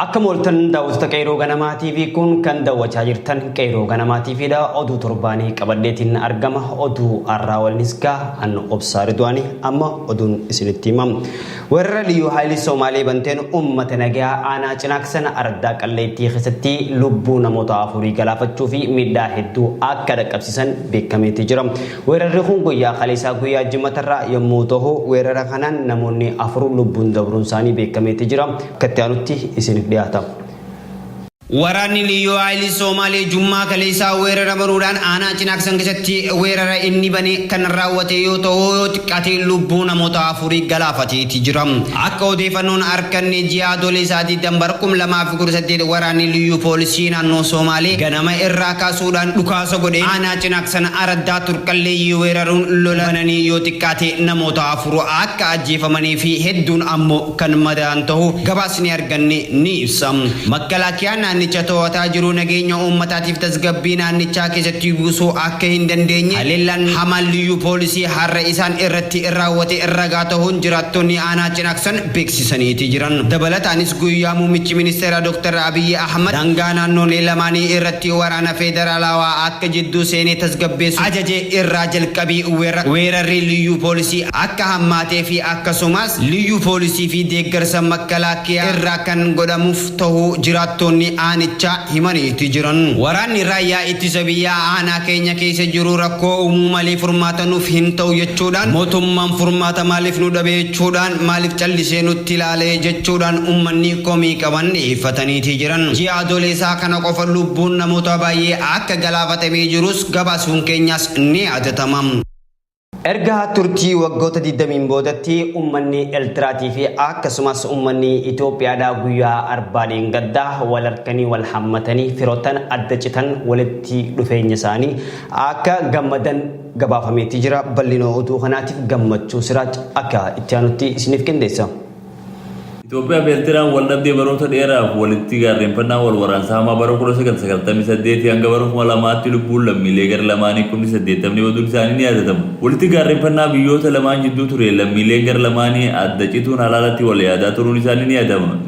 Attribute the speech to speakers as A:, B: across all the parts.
A: Akka mooltan daawwattoota Qeeroo Ganamaa TV kun kan daawwachaa jirtan Qeeroo Ganamaa TV dha. Oduu torbaanii qabadheetiin argama. Oduu har'aa waliinis gaa an obsaa Ridwaanii amma oduun isinitti himam. Weerara liyyuu haayilii Soomaalee banteen uummata nagaa aanaa cinaaksan ardaa qalleettii keessatti lubbuu namoota afurii galaafachuu fi miidhaa hedduu akka dhaqqabsiisan beekameetii jira. Weerarri kun guyyaa kaleessaa guyyaa jimatarraa yommuu ta'u weerara kanaan namoonni afur lubbuun dabruun isaanii beekameetii jira. akka itti aanutti isinif dhiyaata. Waraanni Liyyuu Haayilii Soomaalee Jummaa kaleessaa weerara baruudhaan aanaa Cinaaksan keessatti weerara inni bane kan raawwate yoo ta'u, yoo xiqqaate lubbuu namoota afurii galaafateeti jira. Akka odeefannoon arkanne ji'a Adoolessaa 20 bara 2018 waraanni Liyyuu Poolisii naannoo Soomaalee ganama irraa kaasuudhaan dhukaasa godheen aanaa Cinaaksan araddaa Turqalleeyyii weeraruun lola bananii yoo xiqqaate namoota afur akka ajjeefamanii fi hedduun ammo kan madaa'an ta'uu gabaasni arganne ni ibsa. Makkalaakiyaan naannicha to'ataa jiru nageenya uummataatiif tasgabbii naannichaa keessatti buusuu akka hin dandeenye haleellaan hamaan liyyuu poolisii har'a isaan irratti raawwate ragaa ta'uun jiraattonni aanaa Cinaaksan beeksisaniiti jiran. Dabalataanis guyyaa muummichi ministeeraa Dr. Abiyyi Ahmad daangaa naannoolee lamaanii irratti waraana feederaalaawaa akka jidduu seenee tasgabbeessu ajaje irraa jalqabii weerarri liyyuu poolisii akka hammaateefi akkasumas Liyyuu Poolisii fi deeggarsa Makkalaakkiyaa irraa kan godhamuuf tahuu jiraattoonni aanichaa himaniiti jiran. Waraanni Raayyaa Ittisa Biyyaa aanaa keenya keessa jiru rakkoo uumuu malee furmaata nuuf hin tahu jechuudhaan mootummaan furmaata maaliif nu dhabe jechuudhaan maaliif callisee nutti ilaale jechuudhaan uummanni komii qaban dhiyeeffataniiti jiran. Ji'a Adooleesaa kana qofa lubbuun namoota baayyee akka galaafatamee jirus gabaasuun keenyaas ni yaadatama. Erga turtii waggoota 20n boodatti ummanni Eltiraatii fi akkasumas ummanni Itoophiyaadhaa guyyaa arbaaleen gaddaa wal harkanii wal hammatanii firoottan adda citan walitti dhufeenya isaanii akka gammadan gabaafameetii jira. Bal'inoo oduu kanaatiif gammachuu siraaj akka itti aanutti isiniif qindeessa.
B: Itoophiyaa fi Ertiraan waldhabdee baroota dheeraaf walitti gaarreenfannaa wal waraansa hamaa bara 1998 hanga bara 2000tti lubbuun lammiilee gar lamaanii kumni 80 baduun isaanii ni yaadatama. Walitti gaarreenfannaa biyyoota lamaan jidduu tureen lammiileen gar lamaanii adda cituun halaalatti wal yaadaa turuun isaanii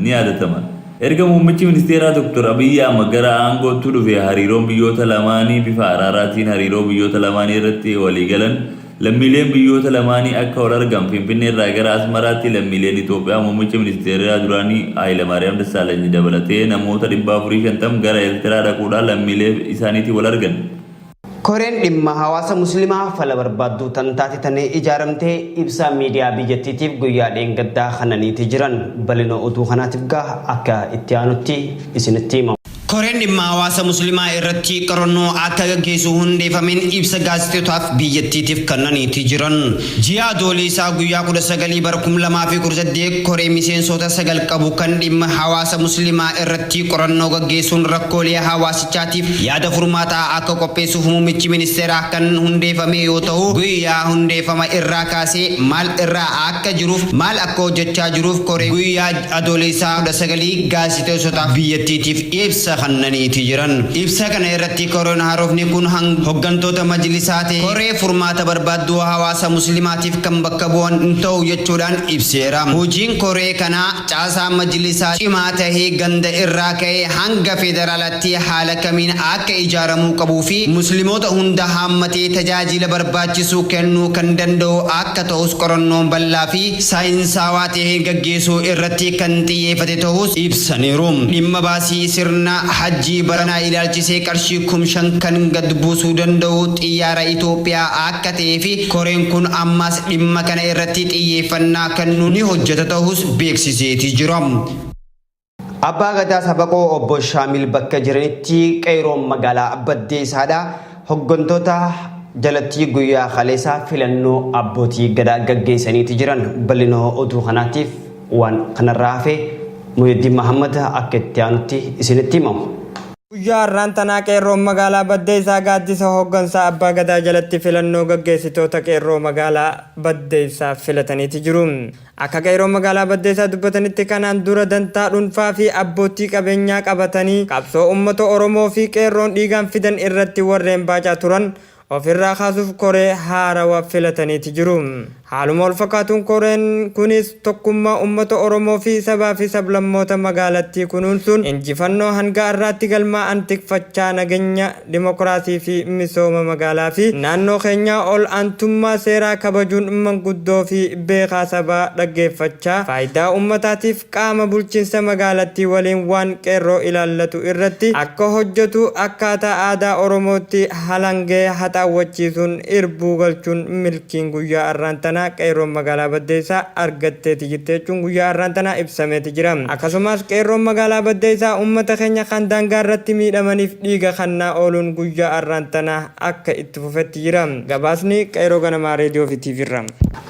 B: ni yaadatama. Erga muummichi ministeeraa Dr. Abiyyi Ahmad gara aangootti dhufee hariiroon biyyoota lamaanii bifa araaraatiin hariiroo biyyoota lamaanii irratti walii galan Lammiileen biyyoota lamaanii akka wal argan Finfinneerraa gara Asmaraatti lammiileen Itoophiyaa muummicha ministeeraa duraanii Hayilamaariyaam Dassaalanyi dabalatee namoota 450 gara Eertiraa dhaquudhaan lammiilee isaaniitiin wal argan. Koreen
A: dhimma hawaasa Muslimaa fala barbaadduu tan taate tanee ijaaramte ibsa miidiyaa biyyattiitiif guyyaa dheengaddaa kananiiti jiran. Bal'ina oduu kanaatiif gaa akka itti aanutti isinitti hima. Koreen dhimma hawaasa muslimaa irratti qorannoo akka gaggeessu hundeefameen ibsa gaazexeotaaf biyyattiitif kannaniiti jiran. Ji'a Adooleysaa guyyaa 19 bara 2018 koree miseensoota 9 qabu kan dhimma hawaasa muslimaa irratti qorannoo gaggeessuun rakkoolee hawaasichaatiif yaada furmaataa akka qopheessuuf muummichi ministeeraa kan hundeefamee yoo tahu guyyaa hundeefama irraa kaasee maal irraa akka jiruuf maal akka hojjachaa jiruuf koree guyyaa Adoolessa 19 gaazexeessotaaf biyyattiitiif ibsa kannaniiti jiran. Ibsa kana irratti Koreen Haarofni kun hang hoggantoota majlisaa ta'e koree furmaata barbaadduu hawaasa muslimaatiif kan bakka bu'an hin ta'u jechuudhaan ibseera. Hojiin koree kanaa caasaa majlisaa cimaa tahe ganda irraa ka'ee hanga federaalatti haala kamiin akka ijaaramuu qabuu fi muslimoota hunda haammatee tajaajila barbaachisu kennuu kan danda'u akka ta'us qorannoon bal'aa fi saayinsaawaa tahe gaggeeffameera. dhiyeessuu irratti kan xiyyeefate ta'uus ibsaniiru. Dhimma baasii sirna Hajjii baranaa ilaalchisee qarshii kum 5 kan gad buusuu danda'u xiyyaara Itoophiyaa akka ta'ee fi koreen kun ammaas dhimma kana irratti xiyyeeffannaa kannuun ni hojjeta ta'uus beeksiseeti jira. Abbaa Gadaa Sabaqoo obbo Shaamil bakka jiranitti qeeroon magaalaa Baddeessaadha. Hoggantoota jalatti guyyaa kaleessaa filannoo abbootii gadaa gaggeessaniiti jiran. Bal'ina oduu kanaatiif waan kanarraa hafe Muhyiddin Mahammad akka itti aanutti isinitti himamu. Guyyaa har'aan
C: tanaa qeerroon magaalaa Baddeessaa gaaddisa hoggansaa Abbaa Gadaa jalatti filannoo gaggeessitoota qeerroo magaalaa Baddeessaa filataniiti jiru. Akka qeeroon magaalaa Baddeessaa dubbatanitti kanaan dura dantaa dhunfaa fi abboottii qabeenyaa qabatanii qabsoo uummata Oromoo fi qeerroon dhiigaan fidan irratti warreen baacaa turan of irraa kaasuuf koree haarawa filataniiti jiru. Haaluma wal fakkaatuun koreen kunis tokkummaa uummata Oromoo fi sabaa fi sablammoota magaalattii kunuunsuun injifannoo hanga har'aatti galmaa'an tikfachaa nagenya Dimokiraasii fi misooma magaalaa fi naannoo keenyaa ol aantummaa seeraa kabajuun manguddoo fi beekaa sabaa dhaggeeffachaa faayidaa uummataatiif qaama bulchiinsa magaalattii waliin waan qeerroo ilaallatu irratti akka hojjetu akkaataa aadaa Oromootti halangee haxaawwachiisuun irbuu galchuun Sochiin guyyaa arraan tanaa Qeerroon Magaalaa Baddeessaa argatteeti jirti jechuun guyyaa arraan tanaa ibsameeti jira. Akkasumaas Qeerroon Magaalaa Baddeessaa ummata keenya kan daangaa irratti miidhamaniif dhiiga kannaa ooluun guyyaa arraan tanaa akka itti fufetti jira. Gabaasni Qeerroo Ganamaa Reediyoo fi TV irraa.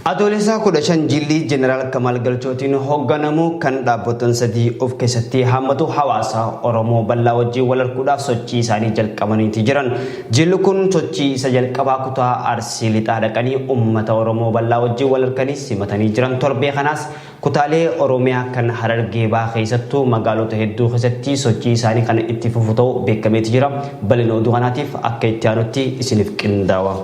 C: Adoolessa
A: 15 jilli Jeneraal Kamaal Galchootiin hogganamu kan dhaabbotan sadii of keessatti haammatu hawaasa Oromoo bal'aa wajjin wal arguudhaaf sochii isaanii jalqabaniiti jiran. Jilli kun sochii isa jalqabaa kutaa Arsii Lixaa dhaqanii ummata Oromoo bal'aa wajjin wal arganii simatanii jiran. Torbee kanaas kutaalee Oromiyaa kan Harargee Bahaa keessattuu magaalota hedduu keessatti sochii isaanii kan itti fufu ta'uu beekameeti jira. Bal'ina oduu kanaatiif akka itti aanutti isiniif qindaawa.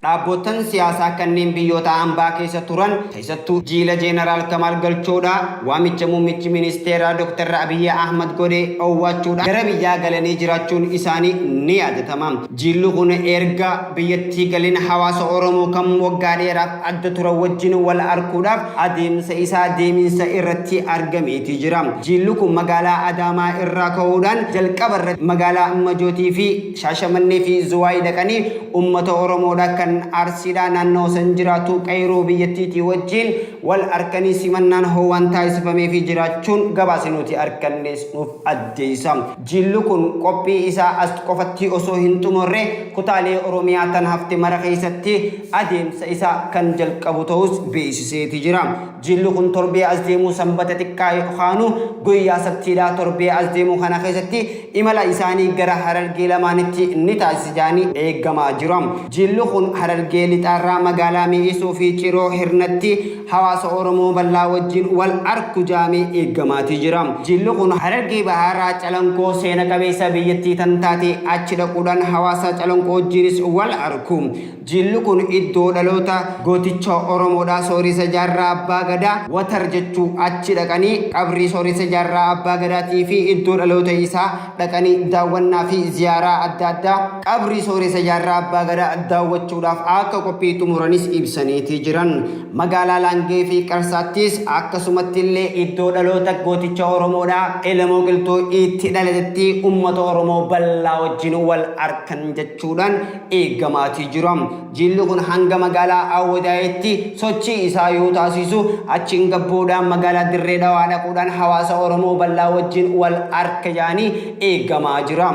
A: Dhaabboottan siyaasaa kanneen biyyoota ambaa keessa turan keessattuu jiila Jeenaraal Kamaal Galchoodhaa waamicha muummichi ministeeraa Dr. Abiy Ahmad godhe owwaachuudhaan gara biyyaa galanii jiraachuun isaanii ni yaadatama. Jiilli kun eerga biyyattii galin hawaasa Oromoo kan waggaa dheeraaf adda turan wajjin wal arkuudhaaf adeemsa isaa deeminsa irratti argameeti jira. Jiilli kun magaalaa Adaamaa irraa ka'uudhaan jalqaba irratti magaalaa Majootii fi Shaashamannee fi Zuwaay dhaqanii ummata Oromoodha kan Arsiidhaa naannawa san jiraatu Qeeyroo biyyattiitii wajjiin wal arkanii simannaan howaan taasifameefii jiraachuun gabaasi nuti arkannees nuuf addeeysa. Jiilli kun qophii isaa as qofattii osoo hin xumurre kutaalee Oromiyaa tan hafte mara keeysatti adeemsa isaa kan jalqabu ta'uus beeysiseeti jira. Jilli kun torbee as deemu Sanbata xiqqaa yookaanu guyyaa Sabtiidha. Torbee as deemu kana keessatti imala isaanii gara Harargee lamaanitti ni taasisa jedhanii eegamaa jira. Jilli kun Harargee Lixaarraa magaalaa Mi'eessoo fi Ciroo Hirnatti hawaasa Oromoo bal'aa wajjin wal arku jedhamee eegamaatii jira. Jilli kun Harargee Bahaarraa Calanqoo seena qabeessa biyyattii tan taate achi dhaquudhaan hawaasa Calanqoo wajjiinis wal arku. Jilli kun iddoo dhaloota gooticha Oromoodha. Sooressa Jaarraa Abbaa Gadaa, Watar jechuu, achi dhaqanii qabrii Sooressa Jaarraa Abbaa Gadaatii fi iddoo dhaloota isaa dhaqanii daawwannaa fi ziyaaraa adda addaa qabrii Sooressa Jaarraa Abbaa Gadaa daawwachuudhaaf akka qophii xumuranis ibsaniiti jiran. Magaalaa Laangee fi Qarsaattis akkasumatti illee iddoo dhaloota gooticha Oromoodha. Elemoo Qilxuu itti dhalatetti uummata Oromoo bal'aa wajjin wal arkan jechuudhaan eegamaatii jira. Jiilli kun hanga magaalaa Awwadaayitti sochii isaa yoo taasiisu achiin gabbuudhaan magaalaa Dirree Dhawaa dhaquudhaan hawaasa Oromoo bal'aa wajjin wal arka yaanii eegamaa jira.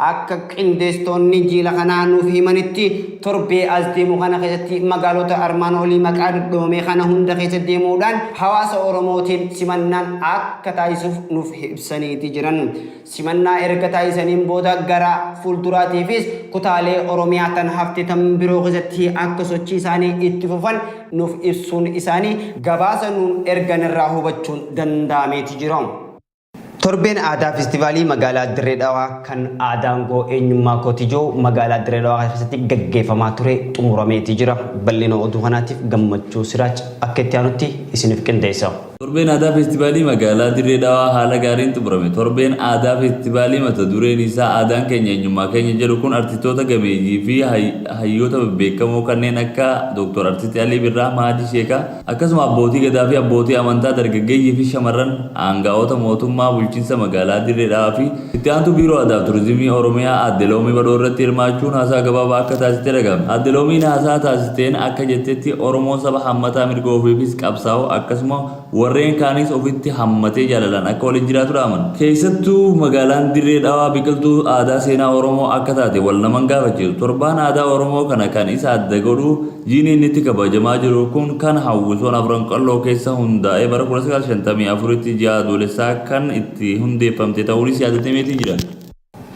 A: Akka qindeestoonni jiila kanaa nuuf himanitti torbee as deemu kana keessatti magaalota armaan olii maqaa dhodhoomee kana hunda keessa deemuudhaan hawaasa Oromootiin simannaan akka taasisuuf nuuf ibsaniiti jiran. Simannaa erga taasisaniin booda gara fuulduraatiifis kutaalee Oromiyaa tan hafte tan biroo keessatti akka sochii isaanii itti fufan nuuf ibsuun isaanii gabaasa nuun ergan irraa hubachuun danda'ameeti jira. Torbeen Aadaa Festivaalii magaalaa Dirree Dhawaa kan Aadaangoo Eenyummaa Kootijoo magaalaa Dirree Dhawaa keessatti gaggeeffamaa ture xumurameeti jira. Bal'ina oduu kanaatiif Gammachuu Siraaj akka itti aanutti isiniif qindeessa. Torbeen Aadaa
B: Feestivaalii Magaalaa Dirree Dhawaa haala gaariin xumurame. Torbeen Aadaa Feestivaalii mata dureen isaa Aadaan Keenya Eenyummaa Keenya jedhu kun artistoota gameeyyii fi hayyoota bebbeekamoo kanneen akka Dr. Artisti Alii Birraa, Mahadii Sheekaa, akkasuma abbootii Gadaa fi abbootii amantaa, dargaggeeyyii fi shamarran, aanga'oota mootummaa bulchinsa magaalaa Dirree Dhawaa fi Itti aantuu Biiroo Aadaaf Turizimii Oromiyaa Aadde Loomii Badhoo irratti hirmaachuun haasaa gabaabaa akka taasiste dhaga'ame. Aadde Loomiin haasaa taasisteen akka jettetti Oromoon saba hammataa mirga ofiifis qabsaa'u akkasuma warreen kaanis ofitti hammatee jaalalaan akka waliin jiraatu dhaaman. Keessattuu magaalaan Dirree Dhawaa biqiltuu aadaa seenaa Oromoo akka taate wal nama hin gaafachiisu. Torbaan aadaa Oromoo kana kan isa adda godhu jiini inni itti kabajamaa jiru kun kan hawwisoon Afran Qalloo keessa hundaa'ee bara 1954tti ji'a Adoolessaa kan itti ti hundeeffamte ta'uunis yaadatameetii jira.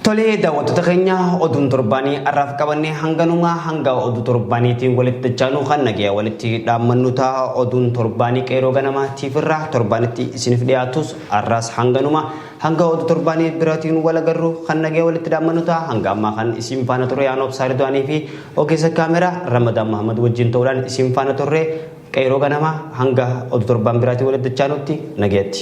B: Tolee
A: daawwattoota keenya oduun torbaanii har'aaf qabannee hanganumaa hanga oduu torbaaniitiin walitti dachaanuu kan nagaya walitti dhaammannu ta'a oduun torbaanii qeeroo ganamaa tiifirraa torbaanitti isiniif dhiyaatus har'aas hanganuma hanga oduu torbaanii biraatiin wal agarru kan nagaya walitti dhaammannu ta'a hanga ammaa kan isin faana turre aanoo obsaa riduwaanii fi ogeessa kaameraa ramadaan mahamad wajjin ta'uudhaan isin faana turre qeeroo ganamaa hanga oduu torbaan biraatiin walitti dachaanutti nagayatti.